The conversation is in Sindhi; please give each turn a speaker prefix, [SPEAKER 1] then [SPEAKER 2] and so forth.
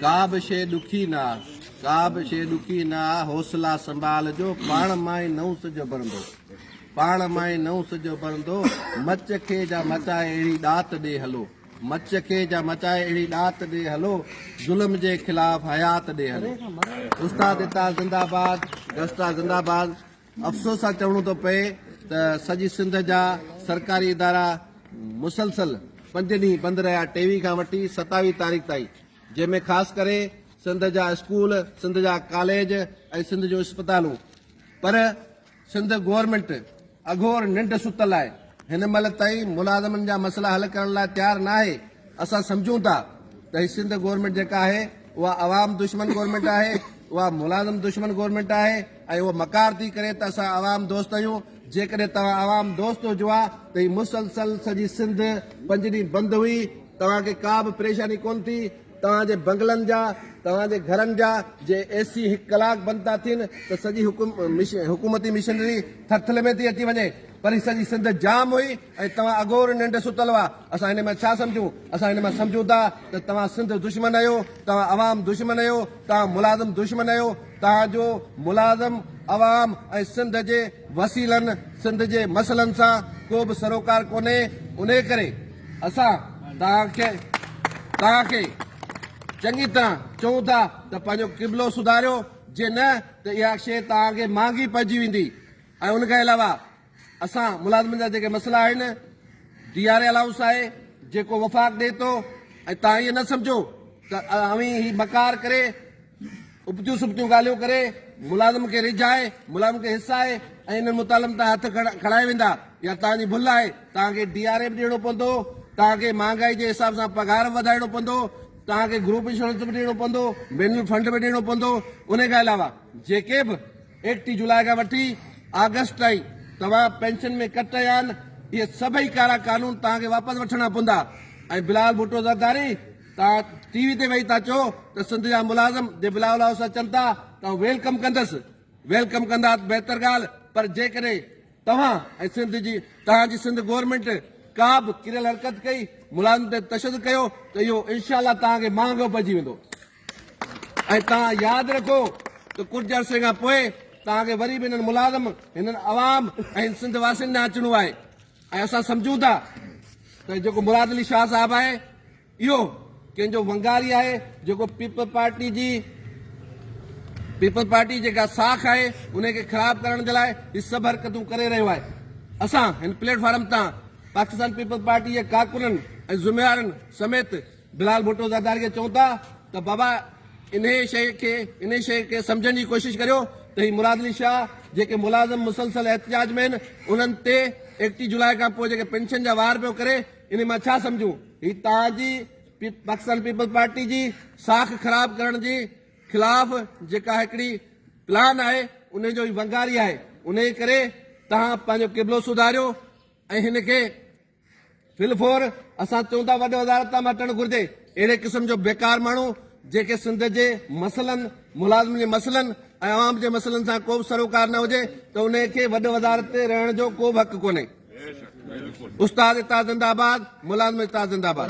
[SPEAKER 1] ڪا به شيء ڏکي نه آ. ڪا به شيء ڏکي نه آ، حوصلا سنڀال جو، پاڻ مان ئي نئون سج اڀرندو. پاڻ مان ئي نئون سج اڀرندو. مچ کي جا مچائي اهڙي ڏات ڏي هلو. مچ کي جا مچائي اهڙي ڏات ڏي هلو. ظلم جي خلاف حيات ڏي هلو. استاد عطا زنده باد. گسٽا زنده باد. افسوس سان چوڻو ٿو پئي ته سڄي سنڌ جا سرڪاري ادارا مسلسل پنج ڏينهن بند رهيا ٽيوي کان وٺي ستاويهه تاريخ تائين جنهن ۾ خاص ڪري سنڌ جا اسڪول سنڌ جا ڪاليج ۽ سنڌ جون اسپتالون پر سنڌ گورنمينٽ اگهور ننڊ ستل آهي هن مهل تائين ملازمن جا مسئلا حل ڪرڻ لاء تيار نه آهي اسان سمجهون ٿا ته هي سنڌ گورنمينٽ جيڪا آهي اها عوام دشمن گورنمينٽ آهي اها ملازم دشمن گورنمينٽ آهي ۽ هو مڪار ٿي ڪري ته اسان عوام دوست آهيون، جيڪڏهن توهان عوام دوست هجو ها ته هي مسلسل سڄي سنڌ پنج ڏينهن بند هئي، توهان کي ڪا به پريشاني ڪونه ٿي، توهان جي بنگلن جا، توهان جي گهرن جا جي اي سي هڪ ڪلاڪ بند ٿا ٿين ته سڄي حڪومتي مشنري ٿرٿلي ۾ ٿي اچي وڃي، پر هي سڄي سنڌ جام هئي ۽ توهان اگهور ننڊ ستل هئا، اسان هن مان ڇا سمجهون، اسان هن مان سمجهون ٿا ته توهان سنڌ دشمن آهيو، توهان عوام دشمن آهيو، توهان ملازم دشمن آهيو. تان جو ملازم عوام ۽ سنڌ جي وسيلن سنڌ جي مسئلن سان ڪو به سروڪار ڪونهي انهي ڪري اسان تان کي تان کي چڱي طرح چئون ٿا ته پنهنجو قبلو سڌاريو جي نه ته اها شي تان کي مهانگي پئجي ويندي ۽ ان کان علاوه اسان ملازمن جا جيڪي مسئلا آهن ڊي آر اي الائونس آهي جيڪو وفاق ڏئي ٿو ۽ تان ائين نه سمجهو ته اوهين هي مڪار ڪري ابتيون سبتيون ڳالهيون ڪري ملازم کي ريجهائي ملازم کي هسائي ۽ انهن مطالبن تان هٿ کڻائي ويندا يا تان جي ڀل آهي تان کي ڊي آر اي به ڏيڻو پوندو تان کي مهانگائي جي حساب سان پگهار به وڌائڻو پوندو تان کي گروپ انشورنس به ڏيڻو پوندو مينل فنڊ به ڏيڻو پوندو ان کان علاوه جيڪي به ايڪٽيهه جولاء کان وٺي آگسٽ تائين توهان پينشن ۾ ڪٽ ڪيا آهن، اهي سڀئي ڪارا قانون توهان کي واپس وٺڻا پوندا ۽ بلاول ڀٽو زرداري توهان ٽي وي تي ويهي ٿا چئو ته سنڌ جا ملازم جي بلاول هائوس اچن ٿا ته آئون ويلڪم ڪندس، ويلڪم ڪندا ته بهتر ڳالهه پر جيڪڏهن توهان ۽ سنڌ جي توهان جي سنڌ گورنمينٽ ڪا به ڪريل حرڪت ڪئي، ملازمن تي تشدد ڪيو ته اهو انشاء الله توهان کي مهانگو پئجي ويندو. ۽ توهان ياد رکو ته ڪجهه عرصي کان پوء توهان کي وري به هنن ملازم، هنن عوام ۽ سنڌ واسين ڏانهن اچڻو آهي ۽ اسان سمجهون ٿا ته جيڪو مراد علي شاهه صاحب آهي اهو ڪنهن جو ونگاري آهي جيڪو پيپلز پارٽي جي پيپلز پارٽي جيڪا ساک آهي ان کي خراب ڪرڻ جي لاء هي سڀ حرڪتون ڪري رهيو آهي اسان هن پليٽ فارم تان پاڪستان پيپلز پارٽي جي ڪارڪنن ۽ ذميوارن سميت بلال ڀٽو زرداري کي چئون ٿا ته بابا انهي شيء کي انهي شيء کي سمجهڻ جي ڪوشش ڪريو ته هي مراد علي شاهه جيڪي ملازم مسلسل احتجاج ۾ آهن انهن تي ايڪٽيهه جولاء کان پوء جيڪي پينشن جا وار پيو ڪري انهي مان ڇا سمجهون هي توهان جي پاڪستان پيپلز پارٽي جي ساک خراب ڪرڻ جي خلاف جيڪا هڪڙي پلان آهي انهي جو هي ونگاري آهي انهي ڪري توهان پنهنجو قبلو سڌاريو ۽ هن کي پلفور اسان چئون ٿا وڏ وزارت تان مٽڻ گهرجي اهڙي قسم جو بيڪار ماڻهو جيڪي سنڌ جي مسئلن ملازمن جي مسئلن ۽ عوام جي مسئلن سان ڪو به سروڪار نه هجي ته ان کي وڏ وزارت تي رهڻ جو ڪو به حق ڪونهي استاد اتحاد زنده آباد ملازم اتحاد زنده آباد